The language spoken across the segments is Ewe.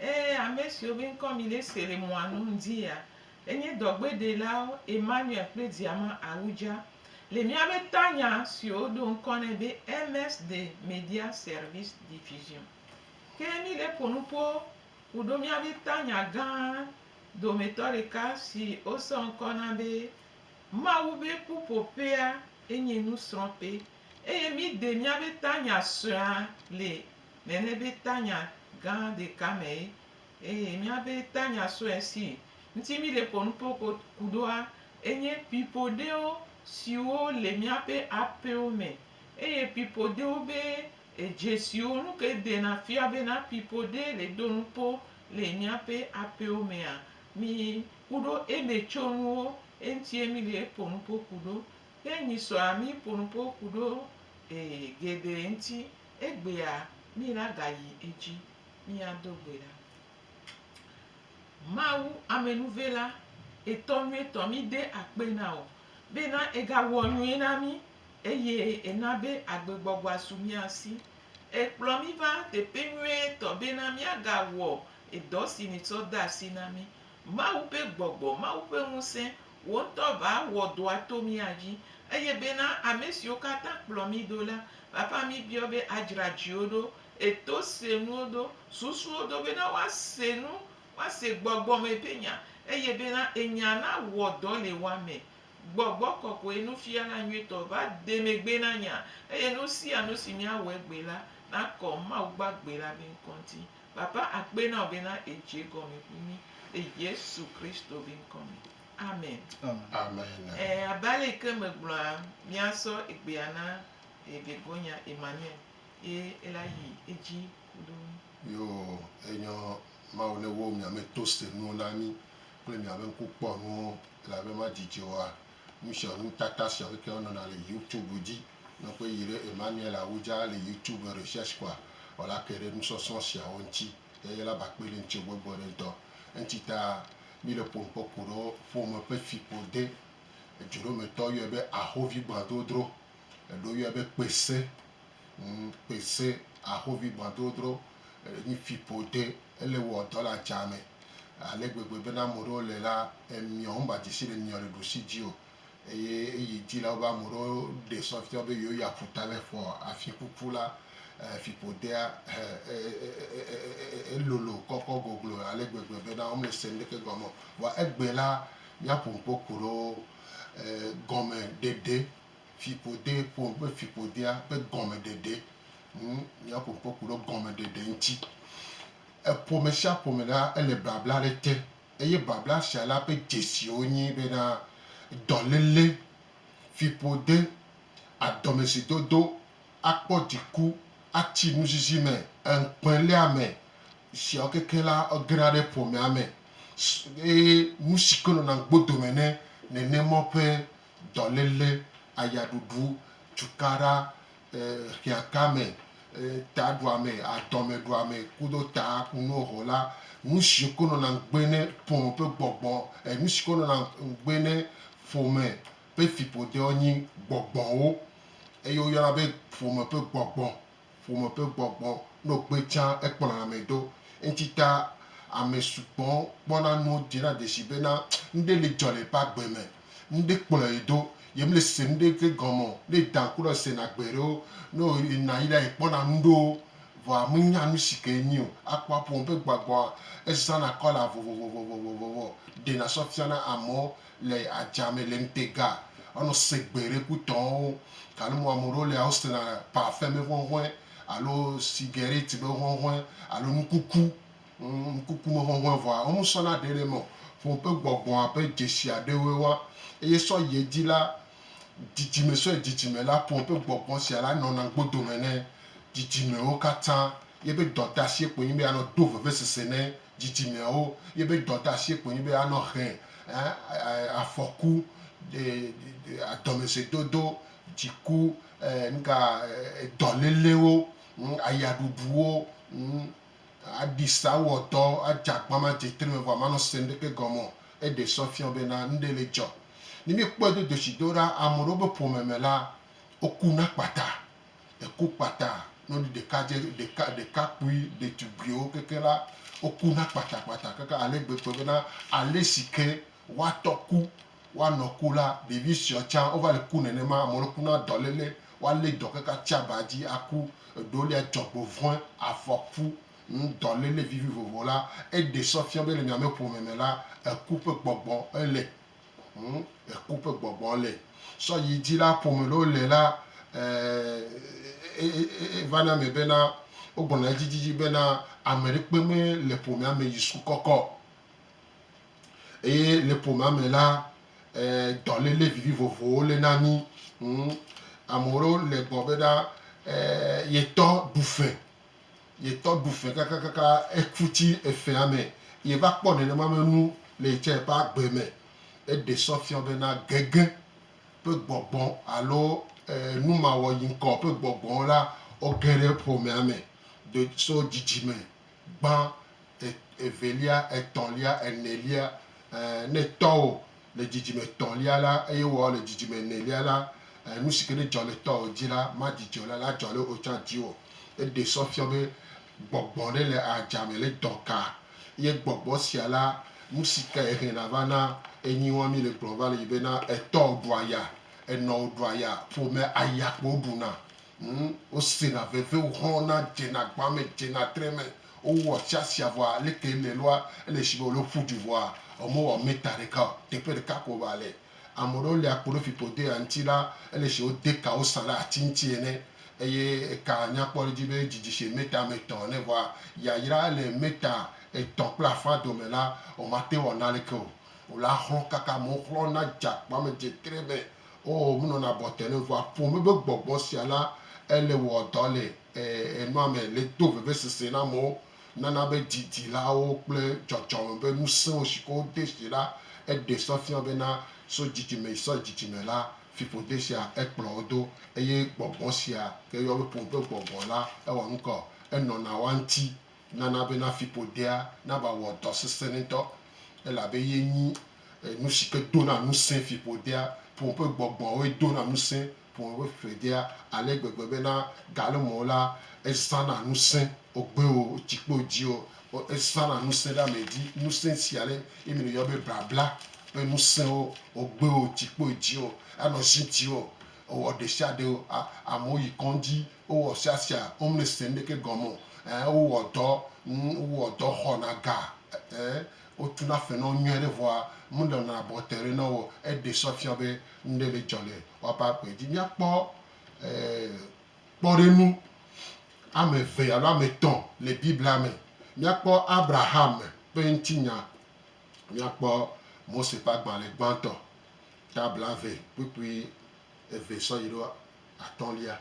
Ẽ, ame siwo be ŋkɔ mi le se le mɔa nu ŋdi ya enye dɔgbeɖelawo Emmanuel kple Diama Awudja, le míabe tanya siwo woɖo ŋkɔ nɛ be MS de Media Service Diffusion. Ke mi le ƒo nu ƒo ku ɖo míabe tanya gã dometɔ ɖeka si wosɔ ŋkɔ na be Mawu be Ƒuƒoƒea enye nusrɔ̃ƒe eye mi de míabe tanya suea le nene be tanya gã ɖeka mee eye mía be tanya sue si ŋuti mí le ƒo nu kpokpo ku ɖoa enye pipo ɖewo siwo le míaƒe aƒewo me eye pipo ɖewo be edze siwo nu ke dena fia bena pipo ɖe le ɖo nu kpo le míaƒe aƒewo mea mi ku ɖo eme tso nuwo eŋutie mí le ƒo nu kpo ku ɖo. Ke nyi sɔa mí ƒo nu kpo ku ɖo e geɖe ŋuti. Egbea mina gayi edzi miado gbe ɖa. Mawu amenuvela etɔ̃ nyuietɔ mide akpe na o bena egawɔ nyui na mi eye ena be agbegbɔgbɔa su mia si. Ekplɔ mi va teƒe nyuietɔ bena miagawɔ edɔ si mitsɔ de asi na mi. Mawu ƒe gbɔgbɔ, Mawu ƒe ŋusẽ Wò ŋutɔ va wɔ dɔa to mía dzi, eye bena ame siwo katã kplɔ mí do la, vava mí biɔ be adzra dziwo ɖo, eto se nuwo do, susuwo do, bena woase nu, woase gbɔgbɔ me ƒe nya, eye bena enya na wɔ dɔ le woa me. Gbɔgbɔ kɔkɔe, nufiala nyuitɔ, va de megbe na nya, eye nu sia nu si mía wɔ egbe la, na kɔ Mawu gbagbe la be ŋkɔ ŋuti. Baba akpe na wò bena èdze egɔme kpli mí le Yesu Kristo be ŋkɔ me. Amen. Amen. Ẽ, abe ale yi ke megblɔa, míasɔ egbea na eh, Begoña Emmanuel ye ela yi edzi kuɖo mí. Yo, enyɔ Mawu ne wo mia me to se nuwo na mí kple mia be ŋku kpɔ nuwo, elabe ma didi oa, nu sia nu tata sia wo ke wo nɔna le YouTube dzi. Ne ƒe yi ɖe Emmanuel Awudja le YouTube recherche kpɔa, wòla ke ɖe nusɔsrɔ̃ siawo ŋuti ye yela ba kpe ɖe ŋuti gbɔgbɔ ɖe ŋutɔ. Eŋuti ta mi le ƒome kpɔ ku ɖe ƒome ƒe fiƒo de. Ejuɖometɔ yɔe be ahovigbãdrodro. Eɖewo yɔe be kpese. Ŋ, kpese, ahovigbãdrodro. Enyi fiƒo de. Ele wɔ dɔ le adzame ale gbegbe bena ame ɖewo le la, emiɔ, womba dze si le emiɔ le ɖusi dzi o. Eye eyi dzi la, wobe ame ɖewo ɖe sɔ fiɔ be yewoyi aƒuta le ƒo afiƒuƒu la. Fiƒodea elolo kɔkɔ goglo ale gbegbe bena womele se nuɖeke gɔme o. Vɔa egbe la, míaƒo nu kpokpo ɖe wo gɔmeɖeɖe, fiƒode, ƒo nu kple fiƒodea ƒe gɔmeɖeɖe. Ŋ, míaƒo nu kpokpo ɖe gɔmeɖeɖe ŋuti. Eƒomesia ƒome la, ele babla ɖe te. Eye babla sia la ƒe dzesiwo nye bena, dɔléle, fiƒode, adɔmesidodo, akpɔ dziku, atsi nuzizi me, ŋukpeléame, esiawo kekeŋ la, egena ɖe ƒomea me. Eye nusi ke nɔna ŋugbo dome ne nenema ƒe dɔléle, ayaɖuɖu, cukaɖa, hiãtame, taɖuame, adɔmeɖuame kudo ta kunuwo ho la, nusi koŋ nɔna ŋugbe ne ƒome ƒe gbɔgbɔ, e nusi koŋ nɔna ŋugbe ne ƒome ƒe fiƒodewo nyi gbɔgbɔwo. Eye woyɔna be ƒome ƒe gbɔgbɔ, ƒome ƒe gbɔgbɔ. Ne wogbe tsã ekplɔna ame ɖo. Eŋuti ta ame sugbɔ kpɔna nuwo dzena dzesi bena nuɖe li dzɔ le eƒe agbe me. ŋɖe kplɔe do ye me le se ŋɖe ke gɔme o ne edan kura ese na gbe ɖewo ne wo yi na yi la yi kpɔna ŋɖewo vɔa me nya nusi ke enyi o akpɔ aƒo me be gbagɔa eza na kɔla vovovovovovovovo ɖe na sɔ fia na amewo le adza me le ŋte ga anɔ se gbe ɖe ku tɔwo gale mɔ ame ɖewo lea wo se na parfɛm be ŋɔŋɔe alo cigarette be ŋɔŋɔe alo nukuku ŋkukumehɔhɔ̃e vɔa, womesɔna ɖe ɖe eme o. Ƒome ƒe gbɔgbɔa ƒe dzesi aɖewoe woa, eye sɔ yi edzi la, dzidzime sɔ yi dzidzime la, ƒome ƒe gbɔgbɔ sia la nɔna gbodome ne dzidzimewo katã. Yeƒe dɔdeasie koe nye be anɔ do vevesese ne dzidzimeawo. Yeƒe dɔdeasie koe nye be anɔ he afɔku, dɔmesɔedodo, dziku, nuka, dɔlélewo, ayaɖuɖuwo. Aɖisa wɔ dɔ adze agbama dze tre me vɔ amanɔ se ŋɖeke gɔme o. Eɖe sɔ fiɔ bena ŋɖe le dzɔ. Ne míekpɔe do dotsidoɖa, ame ɖewo be ƒome me la, woku na kpata. Eku kpata. Nɔvi ɖeka dze ɖeka ɖekakpui ɖetugbuiwo keke la, woku na kpatakpata keke ale gbegbe bena ale si ke woatɔ ku Woanɔ ku la, ɖevi sueawo tsã wova le ku nenema. Ame aɖewo kuna dɔléle, woalé dɔ keke atsi aba dzi aku. Eɖewo lia dzɔgbevɔ̃e, afɔku, ŋudɔléle vivi vovovo la. Eɖe sɔ fia be le miame ƒome me la, eku ƒe gbɔgbɔ ele. Ŋu, eku ƒe gbɔgbɔ le. Sɔ yi dzi la, ƒome ɖewo le la, e, e, e, e, e vana eme bena wogblɔna edzidzidzi bena ameɖekpe me le ƒomea me yi suku kɔkɔ. Eye le ƒomea me la, dɔléle vivivovowo le na mí. Ame ɖewo le gbɔ be ɖa yetɔ ɖu fe, yetɔ ɖu fe kakakaka eku tsi efea me. Yeva kpɔ nenema be nu le yi tsɛ ƒe agbe me. Eɖe sɔ fiɔ be na gege ƒe gbɔgbɔ alo numawɔyiŋkɔ ƒe gbɔgbɔ la, woge ɖe ƒomea me do so dzidzime gbã, e, evelia, etɔ̃lia, enelia, e, ne tɔwò le dzidzime etɔ̃lia la, eye wò le dzidzime enelia la, e, nu si ke ne dzɔ le tɔwò dzi la, madzi dziwò la, la dzɔ le wò tsã dziwò. Eɖe sɔ fiɔ be gbɔgbɔ ɖe le adzame le dɔ ka, ye gbɔgbɔ sia la, nu si ka ye hɛna va na enyi wɔmi le gblɔ va le yi be na etɔwò ɖua ya, enɔwò ɖua ya, ƒomea aya kpo woɖuna. Ŋ, wosena veve, woxlɔ̃na, dzena agbã me, dzena tre me, wowɔ asiasia vɔa aleke ele lɔa? Ele shigbe wòle ƒu du vɔa womewɔ mita ɖeka o. Teƒe ɖeka ko va le. Ame ɖewo lia kpo ɖe fiƒodoea ŋuti la, ele shigbe wode ka wosã ɖe ati ŋuti ene eye ekaa nya kpɔ ɖe edzi be didi shigbe mita ame etɔ̃ ene vɔa yayra ele mita etɔ̃ kple afã dome la, womate ŋu awɔ naneke o. Wole axlɔ̃ kaka me, woxlɔ̃na, dze agbã me, dze tre me. Oo, menɔna abɔ te ne ŋua ƒom be be gbɔgbɔ sia la ele wɔ dɔ le nua me, le do vevesese na amewo, nana be didilawo kple dzɔdzɔme be ŋusẽwo si ke wode si la, eɖe sɔ fia bena so dzidzime yi sɔ yi dzidzime la, fiƒode sia ekplɔ wo do. Eye gbɔgbɔ sia ke yɔwo be ƒom be gbɔgbɔ la, ewɔ nukɔ, enɔna woa ŋuti nana bena fiƒodea nava wɔ dɔ sesẽnitɔ, elabe ye nyi nu si ke dona ŋusẽ fiƒodea. Ƒome ƒe gbɔgbɔawoe dona ŋusẽ ƒome ƒe fiƒodea ale gbegbe bena gale me o la, ezãna ŋusẽ wògbe o, wotsi kpe wo dzi o, ezãna ŋusẽ ɖe ame dzi. Ŋusẽ sia ɖe ye mi yɔ be blabla ƒe ŋusẽwo, wògbe o, wotsi kpe wo dzi o, anɔ zi dzi o, ewɔ ɖesiaɖe o. Amewo yi kɔndzi Wowɔ sia sia, womli se nuɖeke gɔme o, ɛɛ, wowɔ dɔ, ŋ, wowɔ dɔ xɔna ga, ɛɛ, wotuna fenɔwo nyuie ɖe vɔa, menɔna abɔte ɖe na wo o. Eɖe sɔ fia be nuɖe le dzɔ le woaƒe agbe dzi. Míakpɔ, ɛɛ, kpɔɖenu ame eve alo ame etɔ̃ le Biblia me. Míakpɔ Abraham ƒe ŋutinya, míakpɔ Mose ƒe agbalẽ gbãtɔ, ta blaeve kpukpui eve sɔ yi ɖo. atɔ̃lia.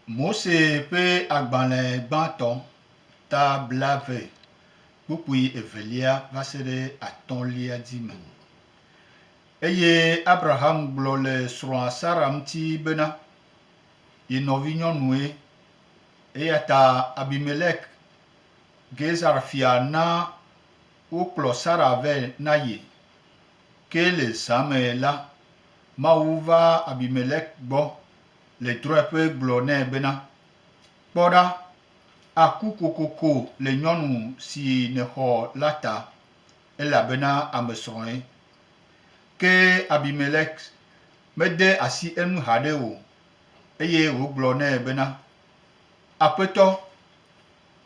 Mose ƒe agbalẽ gbãtɔ, ta blaeve, kpukpui evelia va se ɖe atɔ̃lia di me. Eye Abraham gblɔ le srɔ̃a Sara ŋuti bena, Ye nɔvinyɔnue. Eya ta Abimelek, Gezer fia na wokplɔ Sara vɛ na ye. Ke le zã me la, Mawu va Abimelek gbɔ le drɔ̃eƒe gblɔ nɛ bena, Kpɔ ɖa, àku kokoko le nyɔnu si nèxɔ la ta, elabena amesrɔ̃e. Ke Abimelek mede asi enu haɖe o, eye wògblɔ nɛ bena, Aƒetɔ,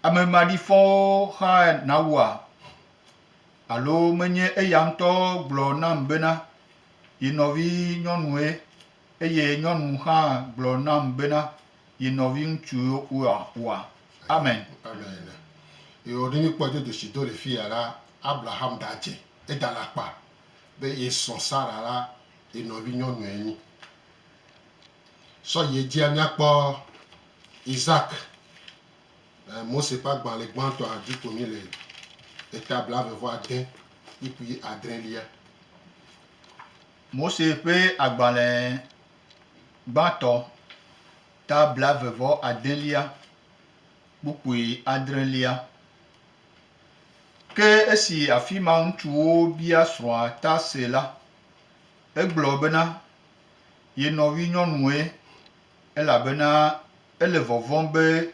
ame maɖifɔwo xaa nawua? Alo menye eya ŋutɔ gblɔ nam bena, Ye nɔvinyɔnue, eye nyɔnu hã gblɔ nam bena, Ye nɔviŋutsue oa? Amen. Amen. Eo, ne míkpɔ dzodoshi do le fiya la, Abraham ɖa dze eda le akpa be ye srɔ̃ Sara la ye nɔvinyɔnue nyi. Sɔ yi edzia míakpɔ Isak. Mose ƒe agbalẽ gbãtɔ hã dzi ko mí le, eta blaeve vɔ ade, ikp adrẽlia. Mose ƒe agbalẽ gbãtɔ, ta blaeve vɔ adelia, kpukpui adrẽlia. Ke esi afima ŋutsuwo bia srɔ̃a ta se la, egblɔ bena, Ye nɔvinyɔnue. elabena ele vɔvɔ̃m be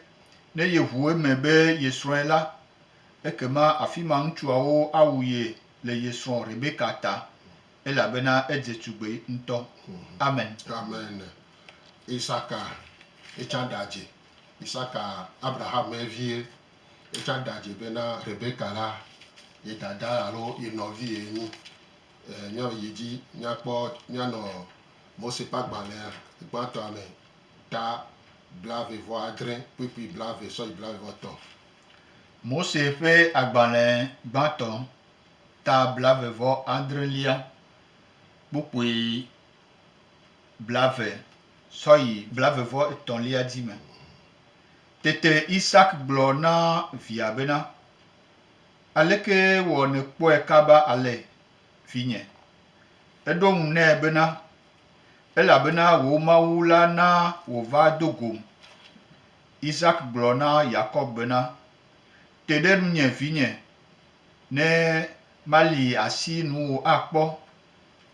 ne yeʋu eme be yesrɔ̃e la, ekema afi ma ŋutsuawo awu ye le ye srɔ̃ Rebeka ta, elabena edze tugbe ŋutɔ. Amen. Amen. Isaka etsã ɖe adze. Isaka, Abraham ƒe vie, etsã ɖe adze bena Rebeka la ye dada alo ye nɔvi ye nyi. Ee, míayi edzi míakpɔ, míanɔ Mose ƒe agbalẽa gbãtɔa me ta blaeve-vɔ-adre kpukpui blaeve sɔ yi blaeve-vɔ-etɔ̃. Mose ƒe agbalẽ gbãtɔ ta blaeve-vɔ-adrelia kpukpui blaeve sɔ yi blaeve-vɔ-etɔ̃lia di me. Tete Isak gblɔ na via bena, Aleke wɔ nèkpɔe kaba ale? vinye. Eɖo eŋu nɛ bena, Elabena wò Mawu la na wòva do gom. Isak gblɔ na Yakob bena, Te ɖe nunye, vinye, ne mali asi nuwò akpɔ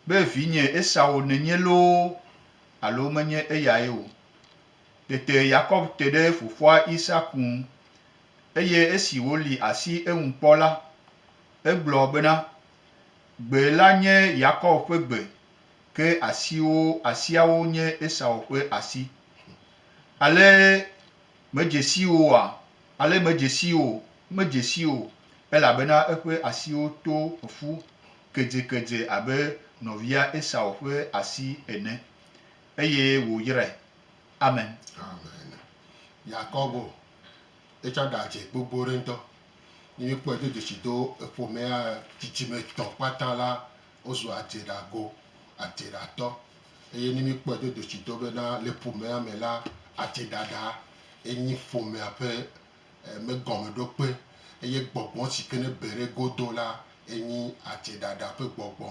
be vinye Esau nènye loo alo menye eyae o. Tete Yakob te ɖe fofoa Isak ŋu, eye esi wòli asi eŋu kpɔ la, Egblɔ bena, Gbe la nye Yakob ƒe gbe, ke asiwo, asiawo nye Esau ƒe asi. Ale medze sii oa? Ale medze sii o, medze sii o, elabena eƒe asiwo to ƒu kedzekedze abe nɔvia Esau ƒe asi ene, eye wòyrae. Amen. Amen. Yakobo Etsã ɖa dze gbogbo ɖe ŋutɔ. Ne mi kpɔe do dzesi do eƒomea dzidzime tɔ kpata la wozu adze ɖa go, adze ɖa tɔ. Eye ne mi kpɔe do dzesi do be na le ƒomea me la adze ɖa ɖa enyi ƒomea ƒe me gɔme ɖo kpe. Eye gbɔgbɔ si ke ne be ɖe go do la enyi adze ɖa ɖa ƒe gbɔgbɔ.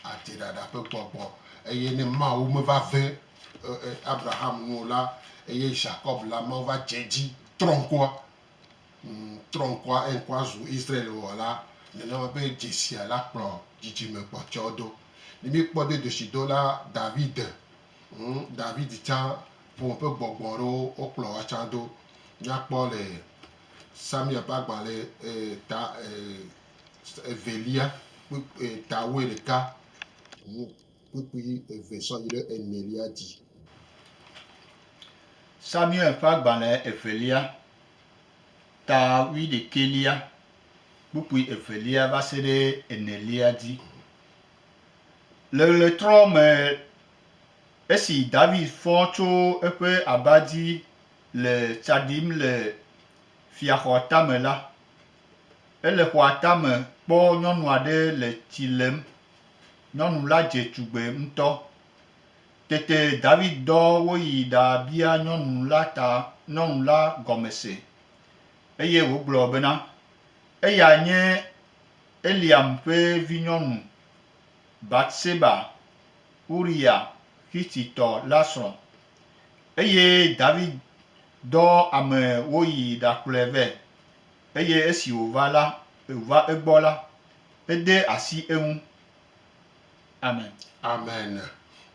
ate ɖaɖa ƒe gbɔgbɔ. Eye ne Mawu meva ve Abraham nu o la, eye Ʒakɔb la, Mawu va dze edzi trɔ ŋkua, trɔ ŋkua, eye ŋkua zu Israel o la, nenema be dzesia la kplɔ dzidzime kpɔtɔewo do. Ne míkpɔ be ɖusidola David, David tsã, ƒome ƒe gbɔgbɔ aɖewo wokplɔ woa tsã do. Míakpɔ le Samuel ƒe agbalẽ ta evelia kpukpui ta wue ɖeka ŋu kpukpui eve sɔ yi ɖe enelia dzi. Samuel ƒe agbalẽ evelia ta wui ɖekɛlia kpukpui evelia va se ɖe enelia dzi. Le ɣletrɔ me esi David fɔ tso eƒe aba dzi le tsa ɖim le fiaxɔ tame la, Ele xɔa tame kpɔ nyɔnu aɖe le tsi lem. Nyɔnu la dze tugbe ŋutɔ. Tete David dɔ woyi ɖabia nyɔnu la ta nyɔnu la gɔme se, eye wògblɔ bena, Eyae nye Eliam ƒe vinyɔnu, Bat-Seba, Uriya Xititɔ la srɔ̃. Eye David dɔ ame woyi ɖakplɔe vɛ, Eye esi wòva la, va egbɔ la, ede asi eŋu. Amen. Amen.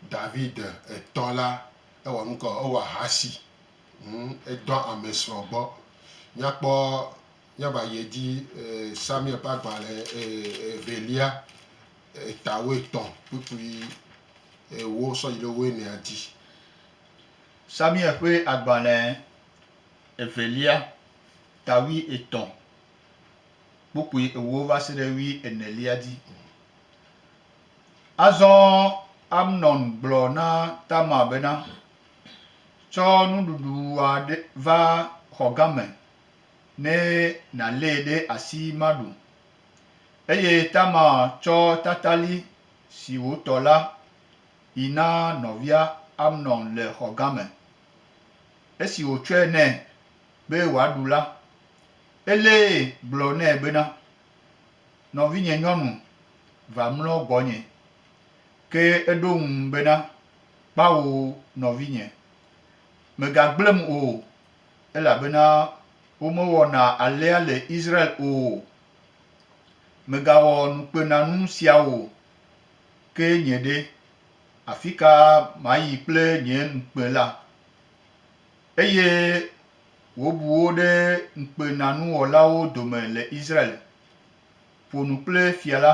David etɔ la, ewɔ nu ke o, ewɔ ahasi. Hm, edɔ amesrɔ̃ gbɔ. Míakpɔ, míava yi edzi, e, Samuel ƒe agbalẽ e, evelia, eta wuietɔ̃ kpukpui ewo sɔ yi ɖe wuienea dzi. Samuel ƒe agbalẽ evelia, ta wui etɔ kpukpui ewo va se ɖe wui enelia dzi. Azɔ Amnon gblɔ na Tamar bena, Tsɔ nuɖuɖua ɖe va xɔ game ne nàlée ɖe asi maɖu. Eye Tamar tsɔ tatali si wòtɔ la yi na nɔvia Amnon le xɔ game. Esi wòtsɔe nɛ, be wòaɖu la, elee gblɔ nɛ bena, Nɔvinyenyɔnu, va mlɔ gbɔnye. Ke eɖo ŋu bena, Kpao nɔvinye, mègagblẽm o, elabena womewɔna alea le Israel o. Mègawɔ nukpenanu sia o. Ke nye ɖe, afika mayi kple nye nukpe la? Eye wòbu wo ɖe ŋukpenanuwɔlawo dome le Israel. Ƒo nu kple fia la,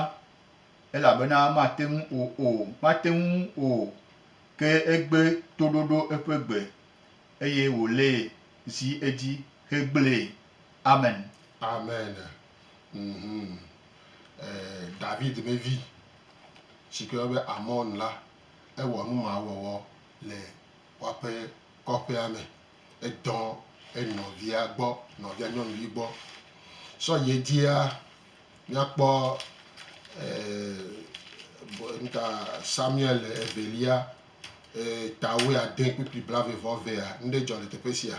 elabena mate ŋu o o, mate ŋu o, ke egbe toɖoɖo eƒe gbe, eye wòlée zi edzi hegblẽe. Amen. Amen. Mhum. E, David ƒe vi, si ke woyɔna be Amon la, ewɔ numawɔwɔ le kɔƒe kɔƒea me edɔ enɔvia gbɔ nɔvia nyɔnuvi gbɔ sɔ yi edzia míakpɔ e, nuka Samuel evelia e, tawoe ade kpukpli blave vɔ vea nuɖe dzɔ le teƒe sia.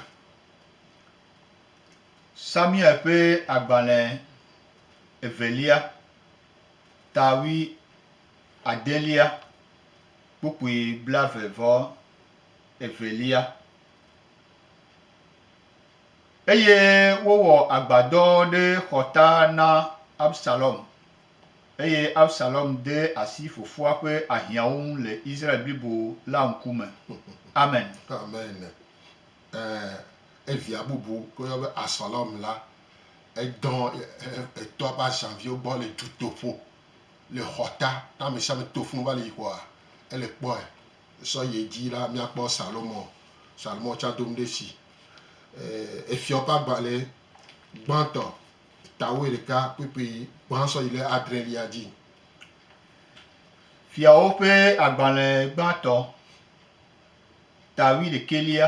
Samuel ƒe agbalẽ evelia tawui adelia. kpukpui blaeve vɔ evelia. Eye wowɔ agbadɔ ɖe xɔta na Absalom, eye Absalom de asi fofoa ƒe ahiãwo ŋu le Israel blibo la ŋkume. Amen. Amen. Ẽ, evia bubu ke woyɔ be Absalom la, edɔ etɔa ƒe ahiãviwo gbɔ le dutoƒo. Le xɔ ta, ne amesiame to fũ va le yi xɔa, ele kpɔe. Sɔ yi edzi la, míakpɔ Salomɔ, Salomɔ tsã do nu ɖe esi. Efiawo ƒe agbalẽ gbãtɔ, ta wuiɖeka kpekpe gbã sɔ yi le adrelia dzi. Fiawo ƒe agbalẽ gbãtɔ, ta wuiɖekɛlia,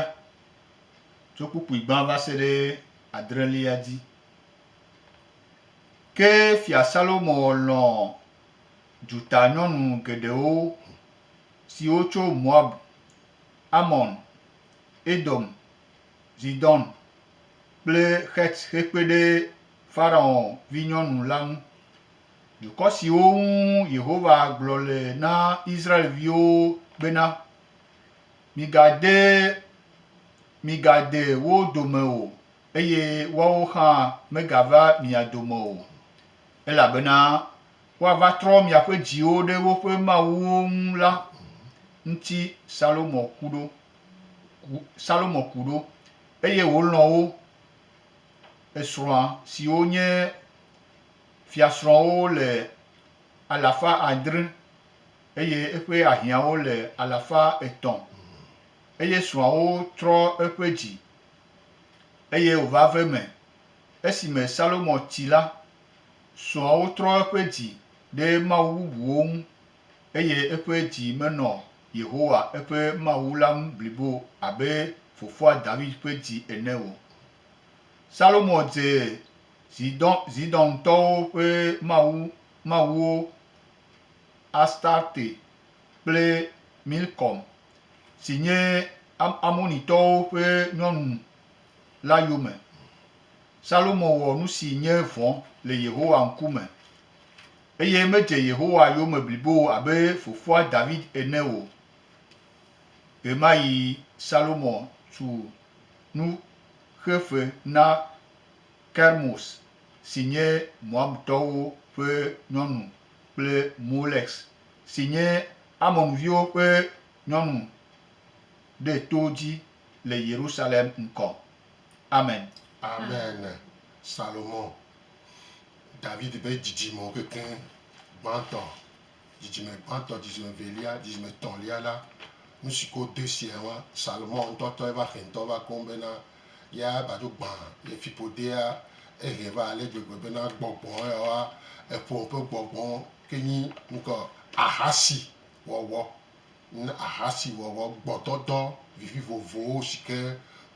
tso kpukpui gbã va se ɖe adrelia dzi. Ke Fia Salomo lɔ̃ dutanyɔnu geɖewo, siwo tso Moab, Amon, Edom, Zidon, kple Xet hekpe ɖe Farao vinyɔnu la ŋu. Dukɔ siwo ŋu Yehowa gblɔ le na Israel-viwo bena, Migade migade wo dome o eye woawo hã megava mia dome o, elabena woava trɔ miaƒe dziwo ɖe woƒe mawuwo ŋu la ŋuti Salomo ku ɖo, Salomo ku ɖo, eye wòlɔ̃ wo, esrɔ̃a, siwo nye fiasrɔ̃wo le alafa adre, eye eƒe ahiãwo le alafa etɔ̃, eye srɔ̃awo trɔ eƒe dzi Eye wòva ve me, esime Salomo tsi la, srɔ̃awo trɔ eƒe dzi ɖe mawu bubuwo ŋu, eye eƒe dzi menɔ Yehowa eƒe Mawu la ŋu blibo abe fofoa David ƒe dzi ene o. Salomo dze Zidon, Zidontɔwo ƒe mawu, mawuwo Astarte kple Milkom, si nye Amonitɔwo ƒe nyɔnu la yome. Salomo wɔ nu si nye vɔ̃ le Yehowa ŋkume, eye medze Yehowa yome blibo o abe fofoa David ene o. Ɣemaɣi Salomo tu nu xe fe na Kermos si nye Moabtɔwo ƒe nyɔnu kple Molex. si nye Amonviwo ƒe nyɔnu ɖe to dzi le Yerusalem ŋkɔ. Amen. Amen. Salomo, David ƒe dzidzimewo kekeŋ gbãtɔ, dzidzime gbãtɔ, dzidzime evelia, dzidzime etɔ̃lia la, nu si ke wode siae nye Salomo ŋutɔ tɔ, eƒe aƒetɔ va koŋ bena ya va dzo gbã ye fiƒodea ehe va ale gbegbe bena gbɔgbɔ yawoa, eƒo eƒe gbɔgbɔ ke nyi ŋkɔ ahasi wɔwɔ na ahasi wɔwɔ gbɔdɔdɔ vivivovowo si ke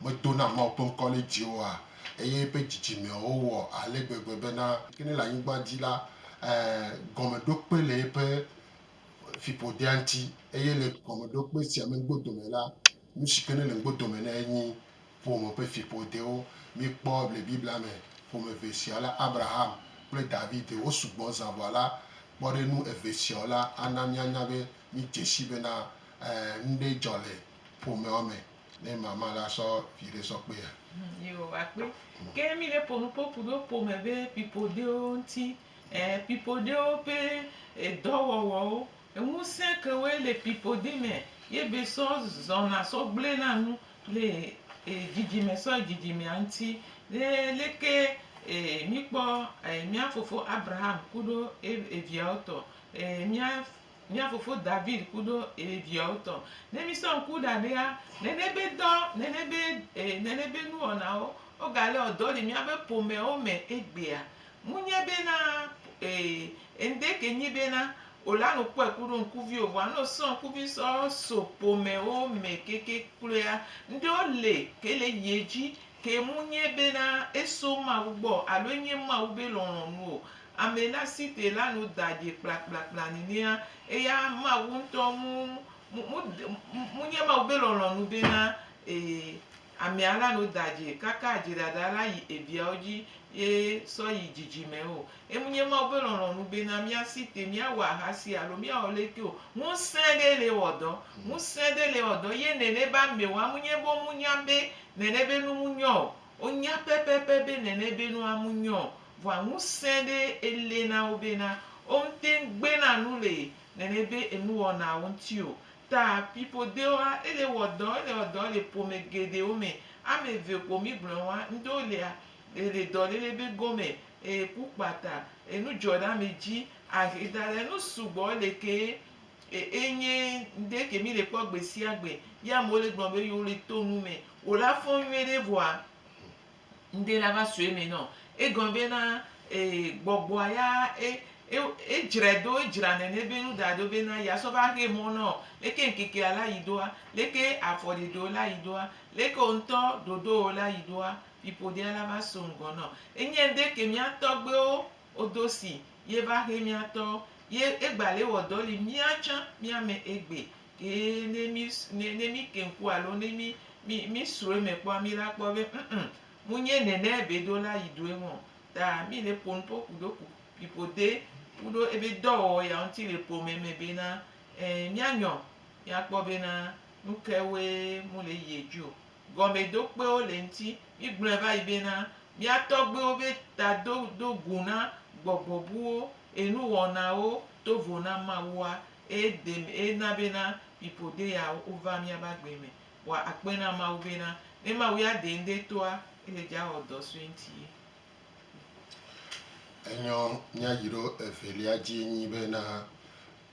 medona Mawu ƒe ŋkɔ ɖe dzi oa, eye eƒe dzidzimewo wɔ ale gbegbe bena, yi ke ne le anyigba dzi la, e, gɔmeɖokpe le eƒe fiƒodea ŋuti, eye le gɔmeɖokpe sia me gbodome la, Nushike ne le ŋgbe dome na ye nyi ƒome ƒe fiƒodewo. Mi kpɔ le Biblia me, ƒome eve sia la, Abraham kple David wo sugbɔ zã vɔa la, kpɔ ɖe nu eve siawo la ana mía nya be mi dzesi bena ŋɖe dzɔ le ƒomeawo me ne mama la sɔ viɖe sɔ kpea. Yewo wa kpe. Ke mi le ƒo nuƒo ku ɖo ƒome ƒe fiƒodewo ŋuti, fiƒodewo ƒe edɔ wɔwɔwo Ŋusẽ kewoe le piƒodi me ye be sɔ zɔna sɔ gblẽna nu le dzidzime sɔ yi dzidzimea ŋuti. Ye leke míkpɔ mía fofo Abraham kuɖo eviawo tɔ, mía fofo David kuɖo eviawo tɔ. Ne mísɔ ŋku da ɖea, nene be dɔ, nene be nuwɔnawo wogalé wɔ dɔ le míaƒe ƒomeawo me egbea, Munye bena, ee, eŋde ke nyi bena, o la no kpɔɛ kuɖo ŋkuvi o, vɔa no sɔn ŋkuvi sɔ so ƒomɛwo mɛ keke kloea, ŋɖewo le ke le yi edzi, ke munye bena, eso Mawu gbɔ o, alo enye Mawu be lɔlɔ̃nu o. Amɛ la si te la no da ɖɛ kplakplakpla nenea, eya Mawu ŋtɔ mu, mu, mu, mu, munye Mawu be lɔlɔ̃nu bena, ee. Amea la nu da dzi kaka adziɖaɖa la yi eviawo dzi ye sɔ yi dzidzime o. Emunye Mawu be lɔlɔ̃nu bena míasi te, míawɔ ahasi alo míawɔ leke o. Ŋusẽ ɖe le wɔ dɔ. Ŋusẽ ɖe le wɔ dɔ ye nene be amewo, amunye be womunya be nene be nu munyɔ o. Wonya pɛpɛpɛ be nene be nu amunyɔ o. Vɔa ŋusẽ ɖe ele na wo bena womete ŋu gbena nu le nene be enuwɔnawo ŋuti o. Ta fiƒodewoa, ele wɔ dɔ, ele wɔ dɔ le ƒome geɖewo me. Ame eve ko mígblɔɛ wa ŋɖewo lea, le dɔléle be gome, e ku kpata, enu dzɔ ɖe ame dzi, ahe da ɖɛ, nu sugbɔ le kee e enye ŋɖe ke mí le kpɔ gbe sia gbe. Ye amewo le gblɔ be yewo le to nu me. Wo la fɔn nyuiɖe vɔa. Ŋde la va sue me nɔ. Egɔme be na ee gbɔgbɔa ya e e edzrae do edzra nɛnɛ be nu da do be na ya sɔ va xe mɔ nɔ. Leke ŋkekea la yi doa? Leke afɔ ɖeɖeo la yi doa? Leke wo ŋtɔ ɖoɖowo la yi doa? Fiƒoɖea la va so ŋgɔ nɔ. Enye ŋde ke mía tɔgbewo wo do si ye va xe mía tɔ. Ye egba le wɔ dɔ li mía tsã mía me egbe Eye ne mí, ne, ne míke ŋku alo ne mí, mí, mísrɔ̃ eme kpɔa, míla kpɔ be ŋŋ, munye nɛnɛ ebe ɖo la yi ɖoe mɔ. Ta mí le ƒonu ƒo ku ɖo ku ƒiƒode kuɖo ebe dɔwɔwɔ ya ŋuti le ƒome me bena, ɛ, mía nyɔ, mía kpɔ bena nuke woe mu le yi edzi o. Gɔmedokpewo le ŋuti. Mí gblɔɛ va yi bena, mía tɔgbewo be ta do, do gu na gbɔgbɔ buwo, enu wɔnawo to vo na Mawua, Eye de mi, eye na bena mi ƒode ya wo va mía ba gbe me. Wa akpe na Mawu bena, ne Mawu ya de ŋde toa, ele dja wɔ dɔ sue ŋti ye. Enyɔ miayiɖo evelia dzie nyi bena,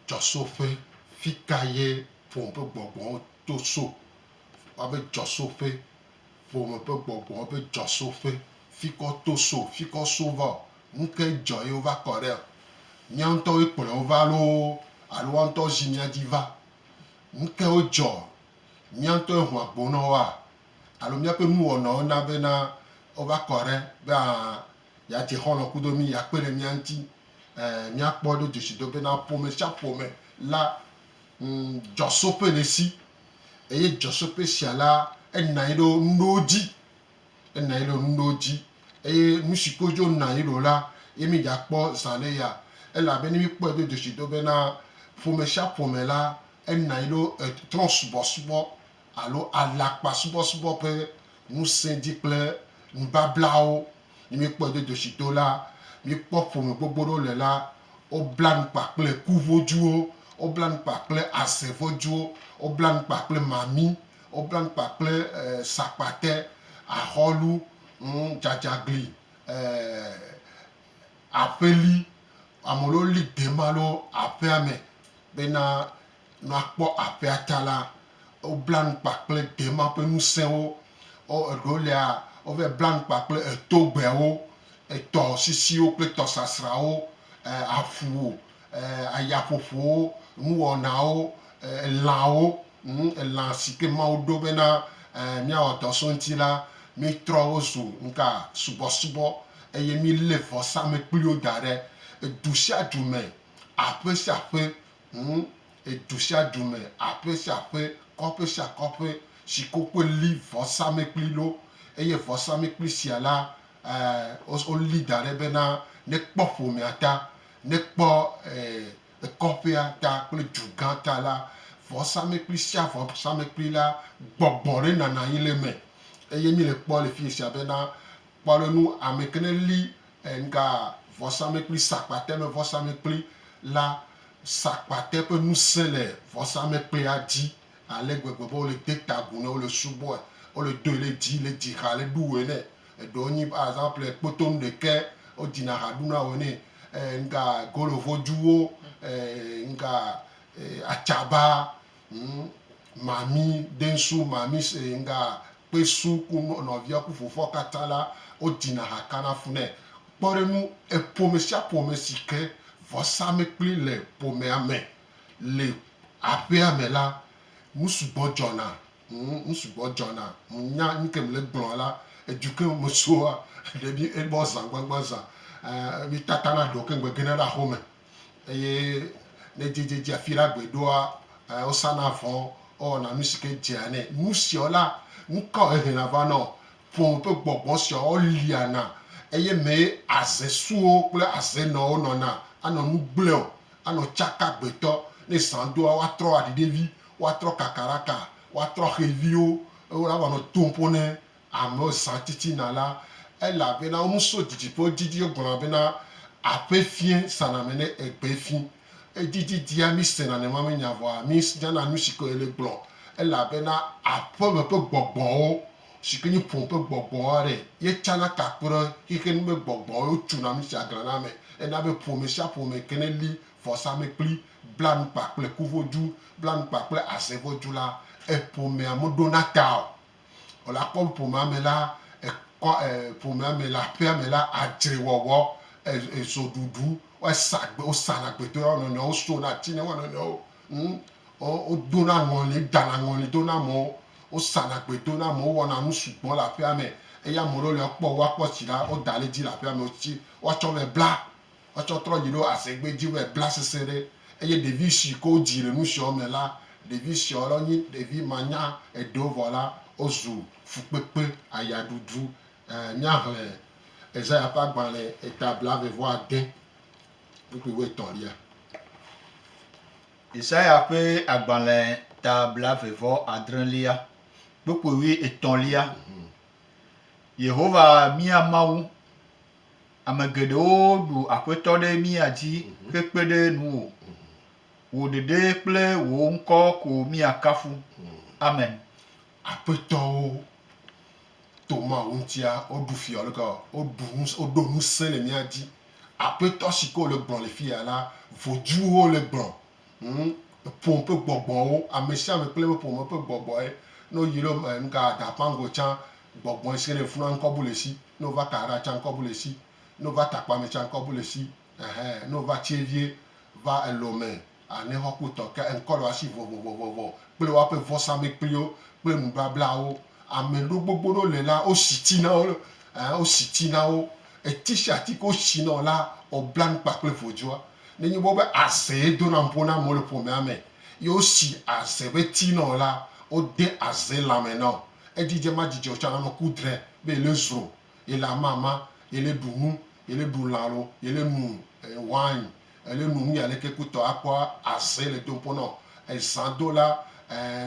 Djɔsoƒe, fika ye ƒome ƒe gbɔgbɔwo to so? Wa be djɔsoƒe, ƒome ƒe gbɔgbɔwo be djɔsoƒe, fikɔ to so, fikɔ so va o? Nu kae dzɔ ye wova kɔ ɖe? Mía ŋutɔwoe kplɔe wova loo alo woawo ŋutɔ zi mía dzi va? Nu kae dzɔ? Mía ŋutɔe ho agbo na woa alo míaƒe nuwɔnawo na bena wova kɔ ɖe be a yeadze xɔlɔ̃ kudo mí, yeakpe ɖe mía ŋuti? Ẽ, míakpɔ ɖo dzesi do bena ƒome sia ƒome la ŋu dzɔsoƒe le esi, eye dzɔsoƒe sia la, ena anyi ɖo nuɖewo dzi Ena yele nu ɖewo dzi eye nusi ko dzo na yi ɖo la, ye mi dza kpɔ zã ɖe ya elabe ne mi kpɔe do dzesi do be na ƒome sia ƒome la ena yi ɖo etrɔ subɔsubɔ alo alakpa subɔsubɔ ƒe ŋusẽ dzi kple nubablawo. Ne mi kpɔe do dzesi do la, mi kpɔ ƒome gbogbo ɖewo le la, wo bla nu kpa kple ku vodzuwo, wo bla nu kpa kple aze vodzuwo, wo bla nu kpa kple mami, Woblaŋ kpa kple sakpate, ahɔlu, dzadzagli, aƒeli. Ame ɖewo li dem alo aƒea me bena ne woakpɔ aƒea ta la, woblaŋ kpa kple dema ƒe ŋusẽwo. Eɖewo lia, wovɛ blaŋ kpa kple etogbewo, etɔsisiwo kple tɔsasrawo, aƒu ayaƒoƒowo, nuwɔnawo, elãwo, elã si ke Mawu ɖo bena míawɔ dɔ so eŋuti la, míetrɔ wo zu nuka? Subɔsubɔ. Eye míelé vɔsamlekpuiwo da ɖe du sia du me, aƒe sia aƒe, du sia du me, aƒe sia aƒe, kɔƒe sia kɔƒe si ke wokpe li vɔsamlekpui ɖo. Eye vɔsamlekpui sia la, wolí da ɖe bena nekpɔ ƒomea ta. Ne kpɔ e kɔƒea ta kple du gã ta la, vɔsamekpli sia vɔsamekpli la gbɔgbɔ ɖe nana anyi le eme. Eye mi le kpɔ le fiye sia be na kpɔ ɖe nu ame ke ne li e ŋka vɔsamekpli sakpate me vɔsamekpli la sakpate ƒe ŋusẽ le vɔsamekplia dzi ale gbegbe be wole de ta agu nɛ, wole subɔe, wole doe le dzi le dzi xa le ɖuwɔe nɛ. Eɖewo nyi par exemple kpotom ɖekɛ wo dzina ha ɖuna wɔ nɛ ŋga golo voduwo ŋga atsaba ŋ mami densu mami se ŋga kpesu ku nɔvia ku fofoa kata la wo dzina ha kana fu nɛ. Kpɔɖenu eƒome sia ƒome sike vɔsa mekpli le ƒomea me le aƒea me la nusugbɔ dzɔna Ŋu, ŋu sugbɔ dzɔna. Ŋu nya nuke mele gblɔa la, edu ke me soa, ɖe mi e bɔ zã gbãgbã zã. E, mi tata na ɖewo ke ŋgbe gena ɖe axɔ me. Eye ne dze dze dze afi ɖe agbe ɖoa, e, wo sa na vɔ, wo wɔna nu si ke dzea nɛ. Nu siawo la, nuka wo he na va na wo? Ƒome ƒe gbɔgbɔ siawo wo lia na. Eye mee aze suwo kple aze nɔwo nɔna, anɔ nu gblẽ o, anɔ tsaka gbetɔ. Ne zã doa, woa trɔ aɖi ɖe vi, woatrɔ kakaraka, woatrɔ xeviwo, eye woavanɔ to ƒo ne amewo zã titina la, elabena wonu so didiƒewo didi wogblɔna bena, Aƒe fiẽ sana ame ne egbe fi. Edi didia mísena nɛmamenya vɔa mínyana nu si ke wòle gblɔ, elabena aƒeme ƒe gbɔgbɔwo, si ke nye ƒome ƒe gbɔgbɔwo aɖe, ye tsana ka kpe ɖe xexe nu me gbɔgbɔwo, ye wotuna nu sia glãna eme hena be ƒome sia ƒome ke neli vɔsamlekpui. Bla nu kpa kple kuvodzu, bla nu kpa kple azevodzu la, eƒomea moɖona ta o. Wòle akpɔ be ƒomea me la, ekɔ e ƒomea me le aƒea me la, adzrewɔwɔ, e ezoɖuɖu, woasa gbe, wosana gbe dona wo nɔnɔewo, wosona ati na wo nɔnɔewo, ŋ, wo wodona ŋɔli, wodana ŋɔli do na amewo, wosana gbe do na amewo, wowɔna nu sugbɔ le aƒea me. Eye ame ɖewo le ekpɔ woakpɔ tsi la, woda ɖe edzi le aƒea me, wotsi, woatsɔ vɛ bla. Etsɔ trɔ dzi ɖo asegbe dzi be bla sese ɖe eye ɖevi si ke wodzi le nusiɔ me la, ɖevi siɔ la wonye ɖevi manya eɖewo vɔ la wozu fukpekpe, ayaɖuɖu. Ɛɛ, míaxlẽ Ezaya ƒe agbalẽ eta blaeve vɔ ade, kpukpui wuietɔ̃lia. Ezaya ƒe agbalẽ ta blaeve vɔ adrẽlia, kpukpui wuietɔ̃lia. Yehowa, mía Mawu, Ame geɖewo ɖu Aƒetɔ ɖe mía dzi hekpe ɖe nuwò. Wò ɖeɖe kple wò ŋkɔ ko míakafu. Amen. Aƒetɔwo to Mawu ŋutia woɖu fia alo ke woɖu nu woɖo ŋusẽ le mía dzi. Aƒetɔ si ke wòle gblɔm le fiya la, vojuwo le gblɔm. Ŋ, ƒome ƒe gbɔgbɔwo, amesiame kple eƒe ƒome ƒe gbɔgbɔe, ne woyi ɖe eme nuka agakpã go tsã, gbɔgbɔe si ke ne funua ŋkɔbu le esi, ne wova ka aɖa tsã ŋkɔbu le esi, ne wova takpame tsã ŋkɔbu le esi, ɛhɛ, ne wova tsie vie va elome anexɔ kpotɔ ke ŋkɔ le woasi vɔvɔvɔvɔvɔ kple woaƒe vɔsamekpliwo kple nubablawo. Ameɖewo gbogbo ɖewo le la, wosi ti na wo, ɛhɛ, wosi ti na wo, eti sia ti ke wosi na wo la, wobla nu kpa kple vodzoa. Nenye be wobe aze ye dona ƒo na amewo le ƒomea me ye wosi aze ƒe ti na wò la, wode aze lãme na wò. Edzidze madzidze o tsã, anɔ ku dre be yele zro, yele amama, yele ɖu nu, yele ɖu lã alo yele nu wine, yele nu nuyi aleke ku tɔ akpɔ aze le dom ƒo na wò. Ezã do la,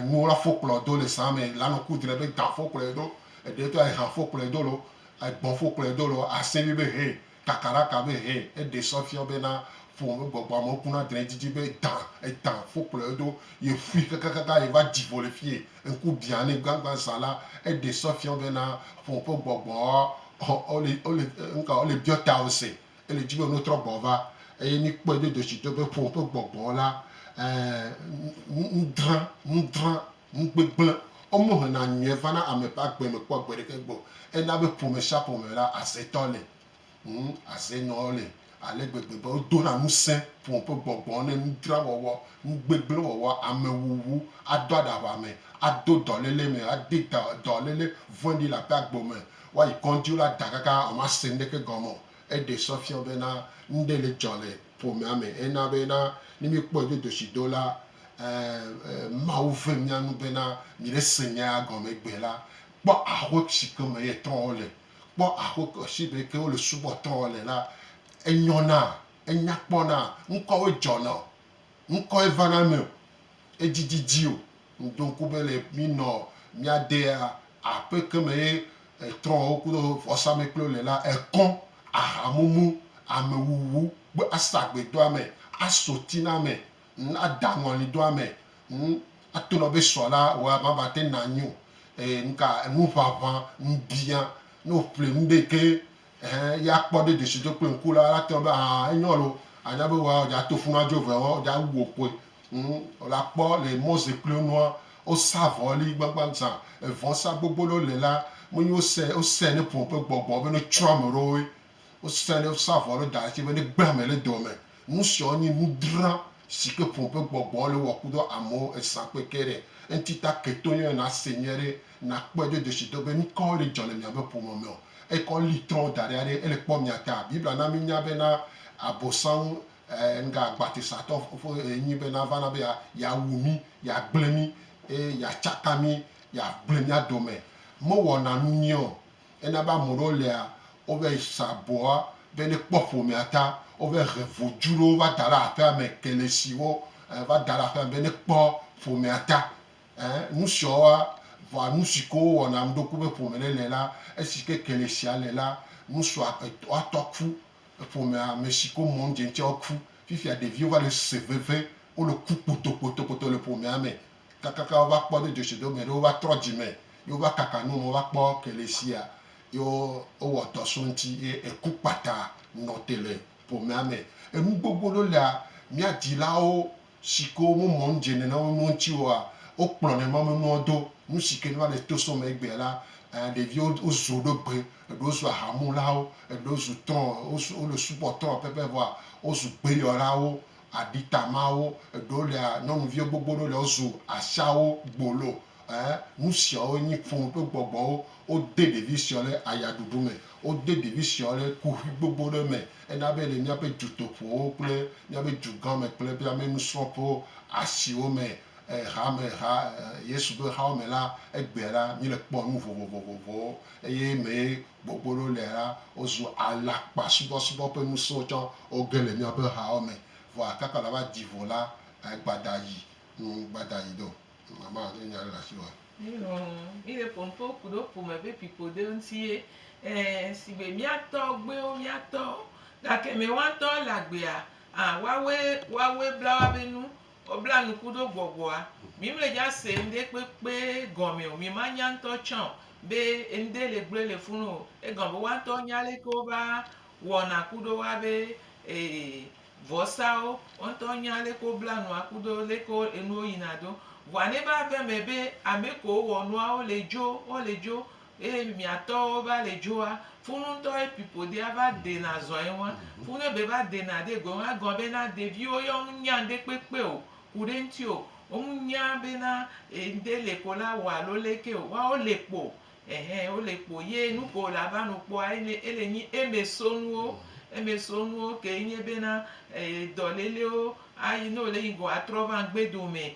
nuwo la fɔ kplɔ do le zã me la nɔ ku dre be dã fɔ kplɔe do, eɖe tɔ ehã fɔ kplɔe do alo egbɔ̃ fɔ kplɔe do alo asẽvi be hɛ kakaɖaka be hɛ eɖe sɔ fia be na ƒo me gbɔgbɔ amewo ku na dre didi be da eda fo kplɔe ɖo ye ƒui kakakaka ye va di vo le fie ŋku bia ne gbagba za la eɖe sɔ fia be na ƒo ƒe gbɔgbɔ ɔ ole ole ŋka ole biɔ ta wo se ele dzi be no trɔ gbɔ va eye mi kpɔe do dosi do be ƒo ƒe gbɔgbɔ la ɛ ŋ ŋ ŋ dra ŋ dra. Ŋugbe gblẽ, Womo hena nyuie va na ame ƒe agbe me kpɔ gbe ɖeke gbɔ. Ena be ƒome sia ƒome me la, aze tɔ le. Ŋ, aze nɔ wo le ale gbegbe be wodona ŋusẽ ƒome ƒe gbɔgbɔ ne nudra wɔwɔ, ŋugbe gblẽ wɔwɔ, ame wuwu, ado aɖaʋa me, ado dɔléle me, ade dɔ, dɔléle vɔ̃ɖi le aƒea gbo me, woayi kɔdzi la da kaka womase nuɖeke gɔme o. Eɖe sɔ fiɔ be na nuɖe le dzɔ le ƒomea me. Ena be na ne míekpɔe dodosi do la, Ɛɛ, Mawu ve mía nu bena mìɖe se nyaa gɔme gbɛ la. Kpɔ axwe shi ke me yetɔwo le. Kpɔ axwe ke shi be ke wole subɔtɔwo le la, enyɔna, enyakpɔna, ŋkɔwoe dzɔna o, ŋkɔe vana eme o, edzididi o. Ŋdo ŋku be le mìnɔ mía dea aƒe ke me ye trɔ̃wo kudo vɔsamlekpuiwo le la, ekɔ, ahamumu, amewuwu kple asagbedoame, asotiname, ŋ ada ŋɔli do amɛ ŋ ato nɔ be sɔ la wɔ ma va te na nyo e ŋka ŋu ʋaʋã ŋ bia no ƒle ŋ be ke ehe ya kpɔ de desi do kple ŋku la la tɔ be aha enyɔ lo anya be wa ja to funu adzo vɛ wa ja wu okoe ŋ o la kpɔ le mɔze kple nua o sa vɔ li gbagba zã evɔ sa gbogbo lo le la me nyo se o se ne ƒo ƒe gbɔgbɔ be no tsrɔ ame ɖowoe. Wosrã ne wosa avɔ ɖe da dzi be ne gbe ame le dɔ me. Nu siawo nye nu dra si ke ƒo ƒe gbɔgbɔ le wɔ kudo amewo ezã kpe ke ɖe eŋuti ta ke to yɔe nase nyuie ɖe nakpɔe do dzesido be nu kawo ɖe dzɔ le miabe ƒome me o. Eyi ke woli trɔ̃ da ɖi aɖe ele kpɔ mia ta. Biblia na minya be na Abosam ŋga agbatesatɔ ƒe ɣe nyi be nava na be yeawu mi, yeagble mi eye yeatsaka mi, yeagble mia dome. Mewɔna nu nyuie o. Ena be ame ɖewo lia, wova yi sa abɔa be ne kpɔ ƒomea ta, wova he vodu ɖewo va da ɖe aƒea me, kelesiwo va da ɖe aƒea me be ne kpɔ ƒomea ta. Ẽ, nu siawoa, vɔa nu si ke wowɔna nu ɖoku be ƒome ɖe le la, esi ke kelesia le la, nu sua etɔa tɔ ku, ƒomea me si ke mɔ nu dze ŋutia woku. Fifia ɖeviwo va le se veve, wole ku kpotokpotokpoto le ƒomea me. Kakaka wova kpɔ do dzesi do geɖe wova trɔ dzime ye wova kaka nu me wova kpɔ kelesia ye wowɔ dɔ so eŋti ye eku kpata nɔ te le ƒomea me. Enu gbogbo ɖewo lea mía dzilawo sike me mɔ nu dze nena wo nuwo ŋti oa wokplɔ ne ma me nuwo do. Nu sike ne va le to so me egbea la ɖeviwo wo zu ɖo gbe eɖewo zu aha mulawo eɖewo zu trɔ wo le subɔ trɔ pɛpɛ vɔa wo zu gbeyɔlawo. aɖita mawo eɖewo lea nyɔnuviwo gbogbo ɖewo le wozu ashawo gbolo e nusiawo nyi ƒo ɖo gbɔgbɔwo wode ɖevi siawo ɖe aya ɖuɖu me wode ɖevi siawo ɖe kuxi gbogbo ɖe me ena be le míaƒe dutoƒowo kple míaƒe dugã me kple míaƒe nusrɔ̃ƒewo asiwo me e hame ha e Yesu ƒe hawo me la egbea la míle kpɔ nu vovovovovowo eye mee Gbogbo ɖewo le la, wozu alakpasubɔsubɔ ƒe ŋusẽwo tsɔ, woge le míaƒe hawo me, vɔ akaka la va di vo la, e gbada yi, ŋ, gbada yi do. Mama, ne nya ɖe le asi wòa? Mí lɔ̃ mí ɖe ƒonuƒo kuɖo ƒome ƒe fiƒode ŋuti ye. Ẽ, sigbe mía tɔgbuiwo, mía tɔwo. Gake mewãtɔ le agbea, ã, woawɔe, woawɔe bla woabe nu. Wobla nuku ɖo gbɔgbɔa. Mi mle dza se ŋɖe kpekpe gɔme o, mi ma nya ŋtɔ tsã o be ŋɖe le gblɔe le funu o. Egɔme be woa ŋtɔwo nya leke wo va wɔna ku ɖo woa be vɔsawo, wo ŋtɔwo nya leke wo bla nua ku ɖo leke enuwo yina ɖo. Vɔa ne va ve eme be ame kewo wɔ nuawo le dzo, wo le dzo Eye miatɔwo va le djoa, funu ŋtɔ ye pipodia va dena zɔa eŋua, funu ebe va dena de goe ŋua egɔme bena deviwo yɔ ŋu nya ŋde kpekpe o kuɖe ŋti o, wo ŋu nya bena ŋde le ko la wa alo leke o, woawo le kpo ɛhɛ wo le kpo ye nuke wo la va nu kpɔa enye ele nyi eme sonuwo, eme sonuwo ke enye bena dɔlelewo ayi ne wo le yi go atrɔ va ŋgbedo me.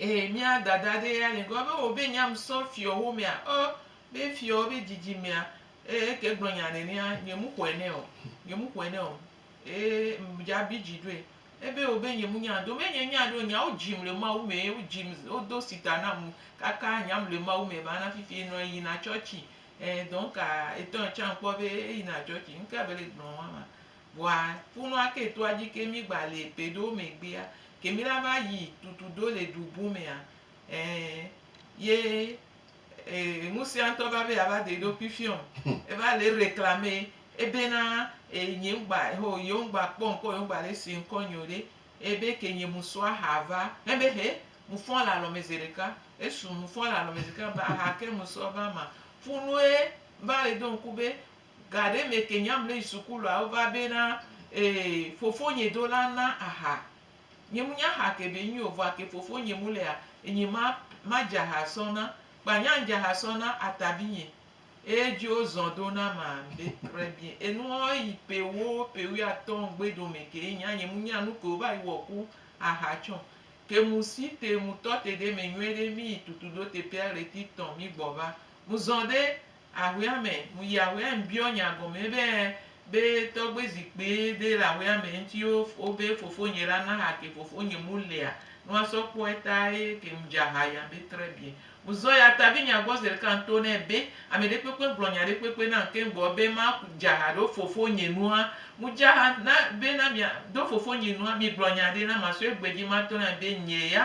Ee, mía Dada aɖee ya li. Egɔme ewɔ be nyam sɔ fiɔwo mea? Ɔ, be fiɔwo be dzidzimea. Ee, eke gblɔ nya nɛnɛa, nye mu xɔe nɛ o. Nye mu xɔe nɛ o. Ee, dza abi dzi ɖoe. Ebe wɔ be nye mu nya do. Menye nya ɖo, nyawo dzim le Mawu me. Wo dzim, wodo sita nam kaka nyam le Mawu me ba na fifi nɔ eyina tsɔtsi. Ee, dɔnka etɔ etsã kpɔ be eyina tsɔtsi. Ŋke be le gblɔ wa ma. Vɔa kunua ke toa dji ke mi gba le ƒe ɖewo megbea, ke mi la va yi tutu do le ɖu bu mea, ẽ, ye e, ŋusia ŋtɔ va be yeava de eɖokui fiɔ ŋ. Eva le reclame ebe na, e, nye ŋ gba, ho, yewo ŋ gba kpɔ ŋkɔ, yewo ŋ gba le se ŋkɔ nyeo ɖe. Ebe ke nye mu sɔ aha va. He be he, mu fɔ̃ le alɔ me zeɖeka. Esu, mu fɔ̃ le alɔ me zeɖeka, ba ha ke mu sɔ va ma. Funue va le do ŋku be, Ga ɖe me ke nyamlɛ suku lɔa wo va be na ee fofo nye do la na aha. Nye mu nya ha ke be nyuio vɔa ke fofo nye mu lea enye ma ma dza ha sɔ na kpa nya dza ha sɔ na ata bi nye eye dzio zɔn do na ma be kre bi enuɔ yi pe wo pe wi atɔ ŋgbe do me ke nya nye mu nya nu ke wo va yi wɔ ku aha tsɔ ke mu si te mu tɔ te ɖe me nyuie ɖe mi yi tutu do te pea ɣleti tɔ mi gbɔ va mu zɔn ɖe Ahuea me. Myi ahuea me biɔ nya gɔme be be tɔgbe zikpui ɖe le ahuea me ŋuti wo be fofonye la na ha ke fofonye mu lea nu asɔ kpɔe ta ye ke mu dza ha ya be très bien. Mu zɔ ya ta vi nya gbɔ zeɖeka ŋto nɛ be ame ɖe kpekpe ŋgblɔ nya ɖe kpekpe nam ke ŋgbɔ be ma dza ha ɖo fofonye nua mu dza ha na be na mia ɖo fofonye nua mi gblɔ nya ɖe na ma sɔe gbedzi ma to na be nye ya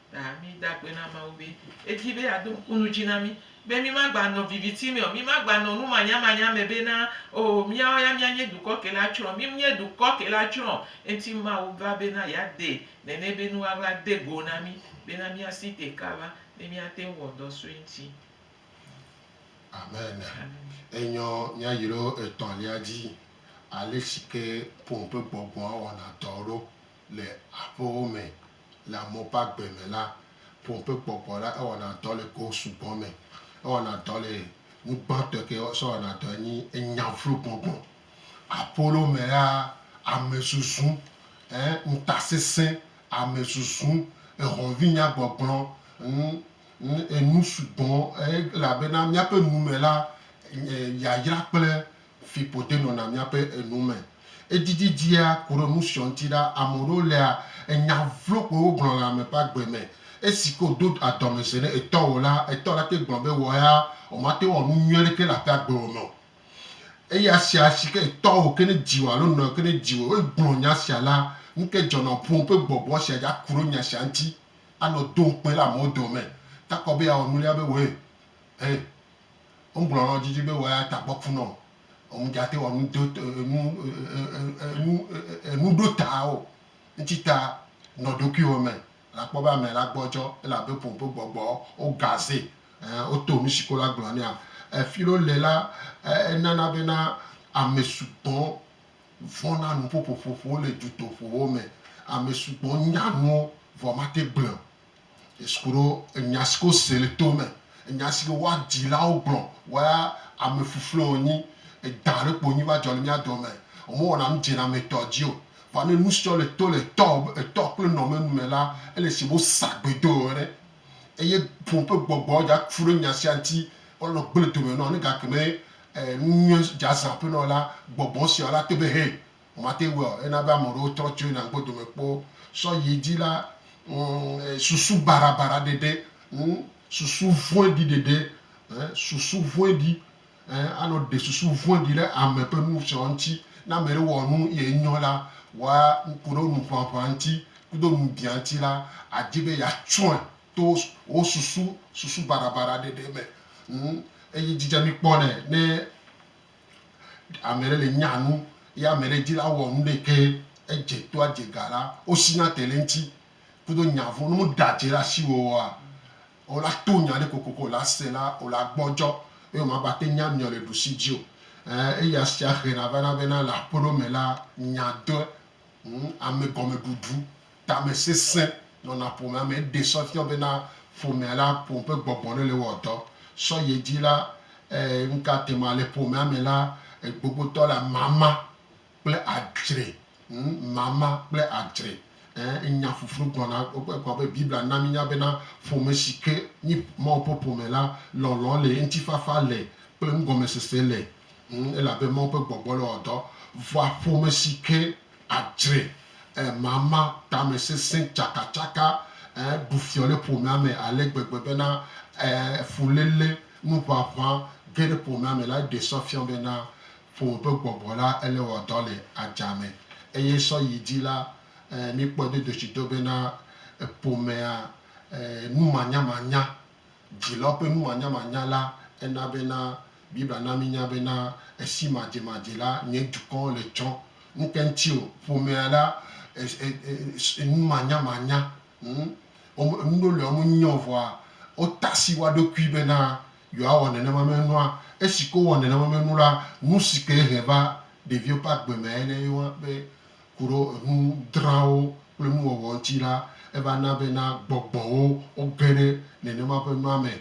Ta mída akpe na Mawu be edi be yeado ŋku nu dzi na mí be mímagbanɔ viviti me o, mímagbanɔ numanyamanya me be na oo míawo ya míanye dukɔ ke la tsrɔ̃. Mímnye dukɔ ke la tsrɔ̃ o, ŋuti Mawu va bena yeade nene be nu aʋla de go na mí bena míasi te kaba ne míate ŋu wɔ dɔ sue ŋuti. Amen. Amen. Enyɔ míayro etɔ̃lia dzi, ale si ke ƒome ƒe gbɔgbɔa wɔna dɔ ɖo. Le aƒewo me le amewo ƒe agbe me la, ƒome ƒe kpɔkpɔ la, ewɔna dɔ le go sugbɔ me. Ewɔna dɔ le nu gbãtɔe ke wosɔ wɔna dɔe nyi enya vlo gbɔgbɔ. Aƒewo me la, amezuzu, ɛ, ŋutasesẽ, amezuzu, ehɔ̃vinyagbɔgblɔ, ŋ, ŋ, enu sugbɔ, ɛ, elabena míaƒe nu me la, ɛ, yayra kple Fiƒode nɔna míaƒe enu me. Edidi dzia ku ɖe nu siɔ ŋuti ɖa. Ame ɖewo lea enya vlo koe wogblɔ le ame ƒe agbe me. Esi ke wòdo adɔmesɛ ne etɔwò la, etɔ la te gblɔ be wɔ ya wòmate ŋu awɔ nu nyui aɖeke le aƒea gbewo me o. Eya sia si ke etɔwò ke ne dziwò alo nɔwò ke ne dziwò eye wògblɔ nya sia la, nu kae dzɔna wò ƒome ƒe gbɔgbɔ sia dzi aku ɖe nya sia ŋuti anɔ do ŋukpe le amewo dome takɔ be yeawɔ nulia be wɔe. Ẽ, wogblɔ nɔ didi be wòaya tagbɔkpu nɔ omudjate wɔ nu do e enu e e e enu e e enuɖotawo ŋtsi ta nɔ ɖokuiwo me. La kpɔ be amɛ la gbɔdjɔ, elabe ƒo ƒe gbɔgbɔ wo gaze. Ẽ, woto nusi ko la gblɔ nɛa. Efilo le la, e enana bena amɛ sugbɔ vɔna nuƒoƒoƒoƒo le djutoƒowo me. Amɛ sugbɔ nya nuwo vɔ mate gblɔɛ o. Yesu ku ɖo enya si ke wose le to me, enya si ke woa dzilawo gblɔ, woa ame fluflue wonyi, edã ɖe kpo wonyi va dzɔ le mía dɔ me. Wome wɔna nu dzenametɔ dzi o. Vɔa ne nu siɔ le to le etɔ etɔ kple nɔ me nu me la, ele se be wosa gbe do eo ene. Eye ƒo ƒe gbɔgbɔ dza ku ɖe nya sia ŋuti va nɔ gble dome nɔ ne gake me e nu nyuie dza zã ƒe nɔ la, gbɔgbɔ siɔ la te be hɛ Mate ŋu ɔ, ena be ame ɖewo trɔ tso yina ŋgbe dome kpɔ sɔ yi edzi la, ŋ, susu barabara ɖeɖe, ŋ, susu vɔ̃ɖi ɖeɖe, ɛ, susu vɔ̃ɖi, ɛ, anɔ ɖe susu vɔ̃ɖi ɖe ame ƒe nu sɔ ŋuti. Ne ame ɖe wɔ nu ye enyɔ la, wa ŋku ɖe nu ʋaʋã ŋuti kudo nu biã ŋuti la, adi be ya tsɔe to wo susu, susu barabara ɖeɖe me, ŋ, eye dzi dze mi kpɔ nɛ ne. Ame ɖe le nya nu ye ame ɖe di la wɔ nu ɖe ke edze toa dze ga la wo si na te le eŋti kudo nya vo nu ɖa dze la si wo wɔa wo la to nya ɖe kokoko wo la se la wo la gbɔ djɔ eye wo ma gba te nya miɔ le ɖusi dzi o. Eya sia hena vana bena le aƒe ɖewo me la nya doe Ŋ, ame gɔmeɖuɖu, tame sesẽ nɔna ƒomea me. Eɖe sɔ fiɔ bena ƒomea la ƒom ƒe gbɔgbɔ ɖe le wɔ dɔ. Sɔ ye dzi la, e, nuka te ma le ƒomea me la, egbogbotɔ la mama kple adzre. Ŋ, mama kple adzre. Ẽ, enya ƒuƒlu gblɔna, egblɔ be Biblia na minya bena ƒome si ke nyi Mawu ƒe ƒome la, lɔlɔ̃ le, ŋutifafa le kple nugɔmesese le. Ŋ, elabe Mawu ƒe gbɔgbɔ le wɔ dɔ vɔa ƒome si ke adzre ẽ mama, tamesesẽ, tsakatsaka, ẽ, ɖu fiɔ le ƒomea me ale gbegbe bena, ẽ, fuléle, nuʋaʋã ge ɖe ƒomea me lae ɖe sɔ fiɔ bena ƒome ƒe gbɔgbɔ la ele wɔ dɔ le adzame. Eye sɔ yi dzi la, ẽ, míkpɔe dodotsido bena ƒomea, ẽ, numanyamanya Dzi la ƒe numanyamanya la, ena bena Biblia na mínya bena esi madzemadze la, nye dukɔ le tsɔ ŋke ŋuti o. Ƒomea la, e-e-e numanyamanya, hm, wome, nu ɖewo li wome nyae o vɔa wota asi wo ɖokui bena yewoawɔ nenema me nua. Esi ke wowɔ nenema me nu la, nu si ke he va ɖeviwo ƒe agbe mee nye be ku ɖe enu drawo kple nuwɔwɔ ŋuti la, eva na bena gbɔgbɔwo woge ɖe nenema ƒe nua me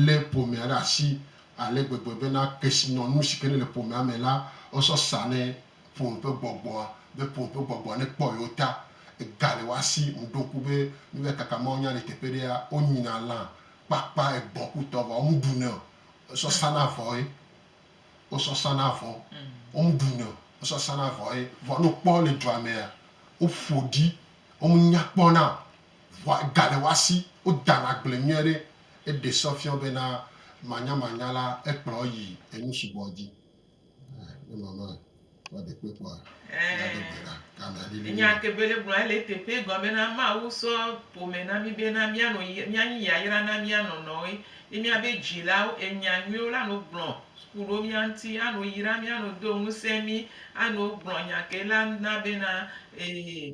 lé ƒomea ɖe asi ale gbegbe bena kesinɔnu si ke nele ƒomea me la, wosɔ sanɛ ƒome ƒe gbɔgbɔa, be ƒome ƒe gbɔgbɔa nekpɔ yewo ta. Egale woa si, ŋɖo ŋku be nu va kaka mawunya le teƒe ɖea, wonyina lã kpakpa egbɔ̃ ku tɔ vɔ womeɖunɛ o, wosɔ sana vɔe. wo sɔ sa na vɔ wo mu ɖu nɛ wo sɔ sa na vɔ ye vɔ no kpɔ le dua mɛ ya wo ƒo ɖi wo mu nya kpɔ na vɔ ga le wa si wo da na gble nyuie ɖe e ɖe sɔ fiɔ be na manya manya la e kplɔ yi enu sugbɔ dzi e ne mama. Ɛɛ, nya ke Bele gblɔ ele eteƒe egɔme na Mawu sɔ ƒome na mí bena míanɔ yi míanyi yayra na mía nɔnɔwoe ye míabe dzilawo. Enya nyuiwo la nɔ gblɔ ku ɖo mía ŋuti, anɔ yra mí, anɔ do ŋusẽ mí, anɔ gblɔ nya ke la na bena, Ee.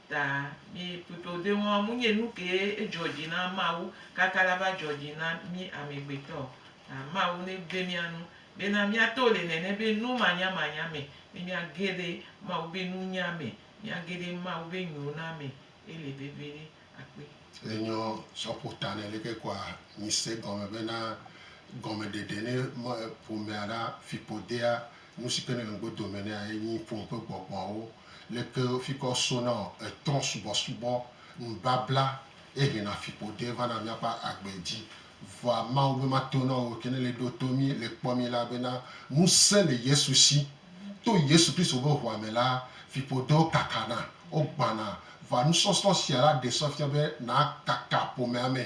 Ta mi kpekpeodoe ŋɔa mu nye nu kee ejɔ dji na Mawu kaka la va jɔ dji na mi amegbetɔ o. Ta Mawu ne gbe mia nu bena mia to le nene be nu manya manya me ne mia ge ɖe Mawu be nunya me, mia ge ɖe Mawu be nyo na me ele veve ɖe akpe. Le nyɔ sɔ ƒo ta ne leke kɔa nyi se gɔme bena gɔme ɖeɖe ne me ƒomea ɖa fikpodea. Nu si ke nɔ ŋgbe dome nɛ enyi ƒome ƒe gbɔgbɔawo. Leke fi ke wosona etɔ̃ subɔsubɔ, nubabla, ye hena fiƒode vana míaƒe agbe dzi. Vɔa Mawu be mato na wo ke ne le ɖo to mí, le kpɔ mí la bena, Ŋusẽ le Yesu si. To Yesu Kristo ƒe ʋua me la, fiƒodewo kakana, wogbãna. Vɔa nusɔsrɔ̃ sia la ɖe sɔ fia be nàkaka ƒomea me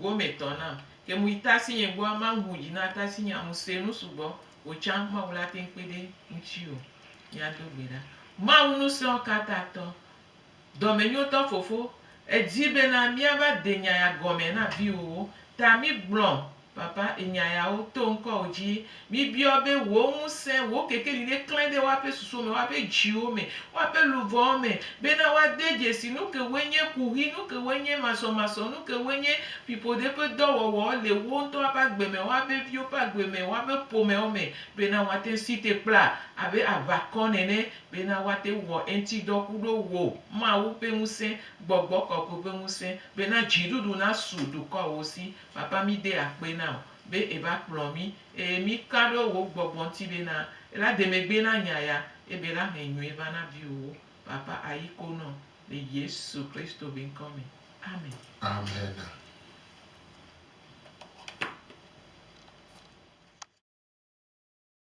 Go me tɔ na. Ke mu yi ta si nye gbɔ ama ŋu dzi na ta si nye amu se nu sugbɔ o tsa ma wula te ŋkpe ɖe ŋtsi o. Mia do gbe ɖa. Ma wu nu sɛɔ ka ta tɔ. Dɔ me nyo tɔ fofo. E dzi be na mia va de nya ya gɔ me na viwo wo. Ta mi gblɔ papa enya ya wo to ŋkɔ wo dzi Mibiɔ be wò ŋusẽ, wò kekeli neklẽ ɖe woaƒe susuwo me, woaƒe dziwo me, woaƒe luʋɔwo me, bena woade dzesi nukewoe nye kuxi, nukewoe nye masɔmasɔ, nukewoe nye fiƒode ƒe dɔwɔwɔ le wo ŋutɔ woaƒe agbe me, woaƒe viwo ƒe agbe me, woaƒe ƒomewo me, bena woate ŋu si te kpla abe aʋakɔ nene, bena woate ŋu wɔ eŋuti dɔ ku ɖo wò, Mawu ƒe ŋusẽ, Gbɔgbɔ Kɔkɔe ƒe ŋusẽ, bena dziɖuɖu nasu dukɔawo si. Papa, mide akpe na wò. be eva kplɔ mí, eye mí ka ɖo wò gbɔgbɔ ŋuti be na ela de megbe na nya ya, ebe ela hẽ nyuie va na viwòwo. Papa ayi ko nɔ le Yesu Kristo be ŋkɔ me. Amen. Amena.